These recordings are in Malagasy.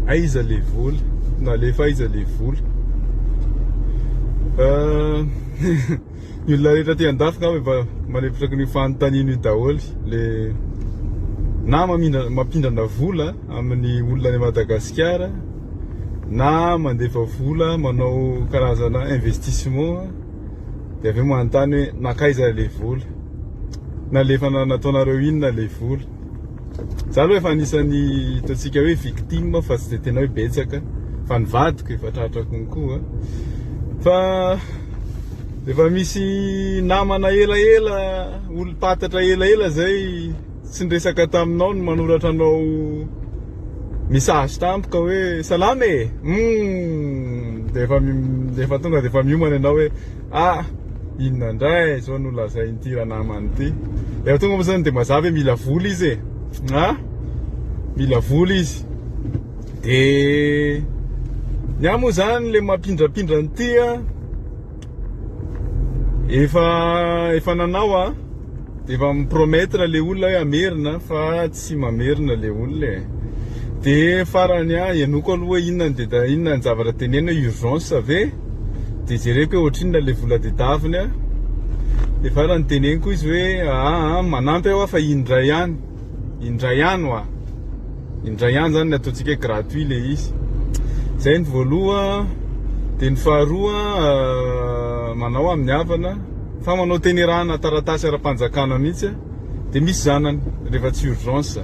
Aiza le vola? Nalefa aiza le vola? Ny olona rehetra aty an-dafy ngamba efa manepitraky ny fanontaniana io daholo le na mampindrana vola amin'ny olona any Madagasikara na mandefa vola manao karazana investissement dia avy eo manontany hoe nankaiza le vola? Nalefa nataonareo inona le vola? Za aloha efa anisan'ny hitantsika hoe victime fa tsy dia tena hoe betsaka fa ny vadiko efa tratra konkoa fa efa misy namana elaela olom-patatra elaela zay tsy niresaka taminao no manoratra anao message tampoka hoe salama e hum dia efa dia efa tonga dia efa miomana ianao hoe Ah! Inona indray izao no lazain'ity ranamana ity? Efa tonga moa izany dia mazava hoe mila vola izy e! Ah! Mila vola izy. Dia ny ahy moa izany ilay mampindrapindra an'ity efa efa nanao aho dia efa mi-promettre ilay olona hoe hamerina fa tsy mamerina le olona e de farany ah henoko aloha hoe inona ny de inona ny zavatra teneno hoe urgence ve de jereko hoe ohatrinona le vola dedaviny ah de farany teneniko izy hoe aa manampy aho fa indray ihany indray ihany hoa indray ihany zany ny ataontsika hoe gratuit le izy zay ny voaloha de ny faharoa manao amin'ny havana fa manao tenerana taratasy ara-panjakana mihitsy ah de misy zanany rehefa tsy urgence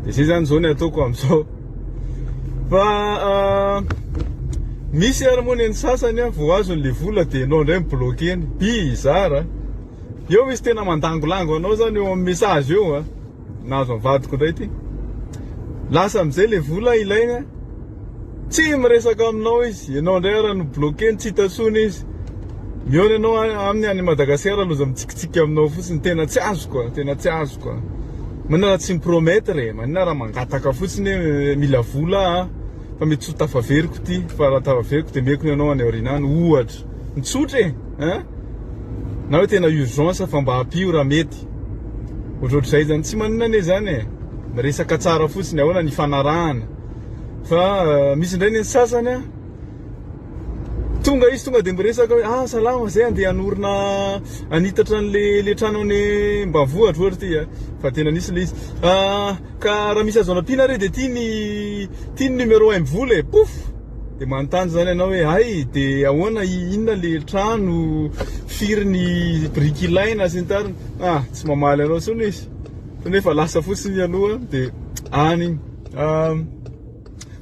de zay zany zao ny ataoko amizao fa misy ary moa ny sasany a vao azony le vola de enao ndray mi-bloquer-ny bizarre eo misy tena mandangolango anao zany eo am message eo a nahazo am vadiko ndray ty lasa amizay le vola ilaina. Tsy miresaka aminao izy, enao ndray ara no bloquer-ny tsy hita tsony izy, mihaona enao aminy any Madagascar loza mitsikitsiky aminao fotsiny, tena tsy azoko a, tena tsy azoko a, manina raha tsy mi-promettre e, manina raha mangataka fotsiny hoe mila vola ah, fa mety tsy ho tafaveriko ity, fa raha tafaveriko de meko ny anao any aoriana any, ohatra, mitsotra e, hein, na hoe tena urgence fa mba ampio raha mety, ohatrohatrizay zany, tsy manina anie zany e, miresaka tsara fotsiny, ahoana ny hifanarahana. fa misy indray ny sasany tonga izy tonga de miresaka hoe ah salama zay andeha hanorina hanitatra an'le le trano any ambanivohitra ohatra ty a, fa tena nisy le izy, ka raha misy azo anampiana re de ty ny ty ny numero un mivola e, pouf, de manontany zany anao hoe hay de ahoana inona le trano, firy ny biriky ilaina sy ny tariny, ah tsy mamaly anao tsony izy fa nefa lasa fotsiny aloha de any iny.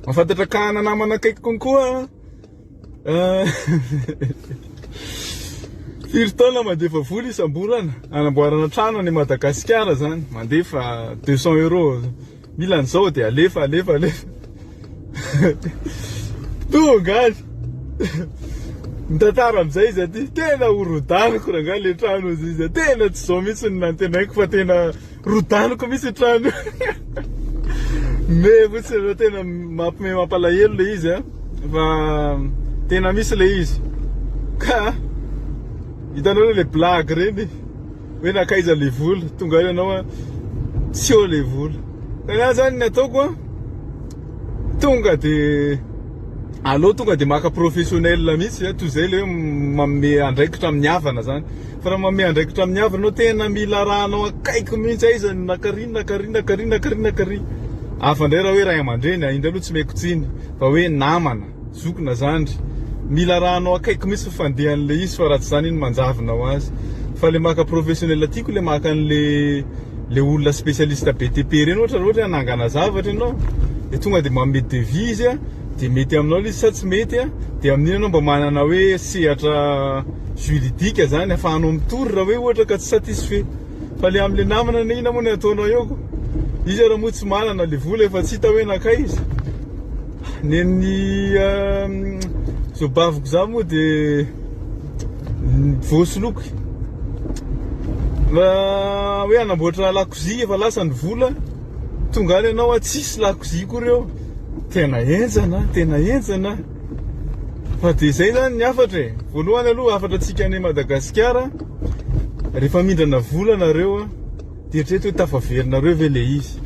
Mahafantatra ka hanana namana akaiky konkoa Firy taona mandefa vola isam-bolana anamboarana trano any Madagasikara zany mandefa 200 euros mila an'izao dia alefa alefa alefa tonga any mitantara amin'izay izy aty tena horodaniko rangahy le trano izy tena tsy izao mihitsy ny nantenaiko fa tena Rodaniko mihitsy io trano io. Me fotsiny ireo tena mampime mampalahelo le izy a. Fa tena misy le izy. Ka hitanao le blague ireny hoe nakaiza le vola tonga any ianao a tsy eo le vola. Ka za zany ny ataoko a tonga de aleo tonga de maka professionnel mihitsy a toy izay le hoe manome andraikitra amin'ny havana zany. Fa raha manome andraikitra amin'ny havany ianao, tena mila arahanao akaiky mihitsy aiza ny nakary, nakary, nakary, nakary, nakary. Hafa indray raha hoe ray aman-dreny, indray aloha tsy meko tsiny, fa hoe namana, zoky na zandry, mila arahanao akaiky mihitsy ny fandehan'ilay izy fa raha tsy izany iny manjavona ho azy. Fa ilay maka professionnel tiako ilay maka an'ilay ilay olona spécialiste BTP ireny ohatra, raha ohatra hoe hanangana zavatra ianao dia tonga dia manome devis izy a. dia mety aminao ilay izy sa tsy mety a, dia amin'iny ianao mba manana hoe sehatra juridique zany afahanao mitory raha hoe ohatra ka tsy satisfait, fa le amle namana anie inona moa no ataonao eo ko, izy ary moa tsy manana le vola efa tsy hita hoe nankay izy, nen'ny zao baviko zao moa de voasoloiko hoe hanamboatra lakozia efa lasa ny vola, tonga any ianao a tsisy lakozia koa reo. Tena enjana, tena enjana. Fa dia izay zany ny hafatra e. Voalohany aloha hafatra antsika any Madagasikara, rehefa mindrana vola nareo dia eritrereto hoe tafaverinareo ve le izy.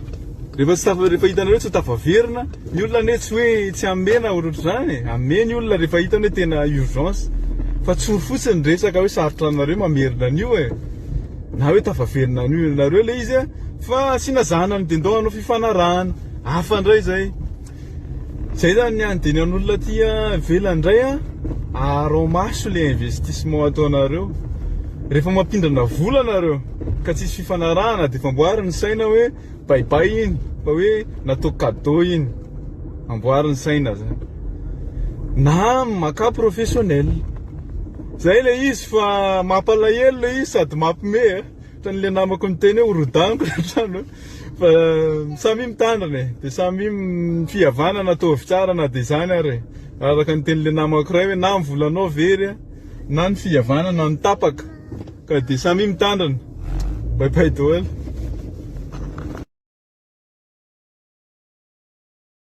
Rehefa tsy tafa- rehefa hitanareo tsy ho tafaverina, ny olona anie tsy hoe tsy hamena ohatrohatr'izany e. Hamehy ny olona rehefa hitany hoe tena urgence. Fa tsory fotsiny ny resaka hoe sarotra aminareo mamerina an'io e. Na hoe tafaverina an'io nareo le izy fa asiana zana ny dindon hanao fifanarahana. hafa ndray zay. Zay zany ny andidian'olona aty ivelany ndray a, aharao maso le investissement ataonareo. Rehefa mampindrana vola nareo ka tsisy fifanarahana de efa amboary ny saina hoe bye bye iny fa hoe natao cadeau iny. Amboary ny saina zany. Na makà professionnel. Zay le izy fa mampalahelo le izy sady mampime a. Ohatran'le namako niteny hoe horodaniko le trano. Fa samia mitandrina e, de samia ny fihavanana ataovy tsara na de zany ary e, araka ny tenin'le namako ray hoe na ny volanao very a, na ny fihavanana no tapaka, ka de samia mitandrina, bye bye doel.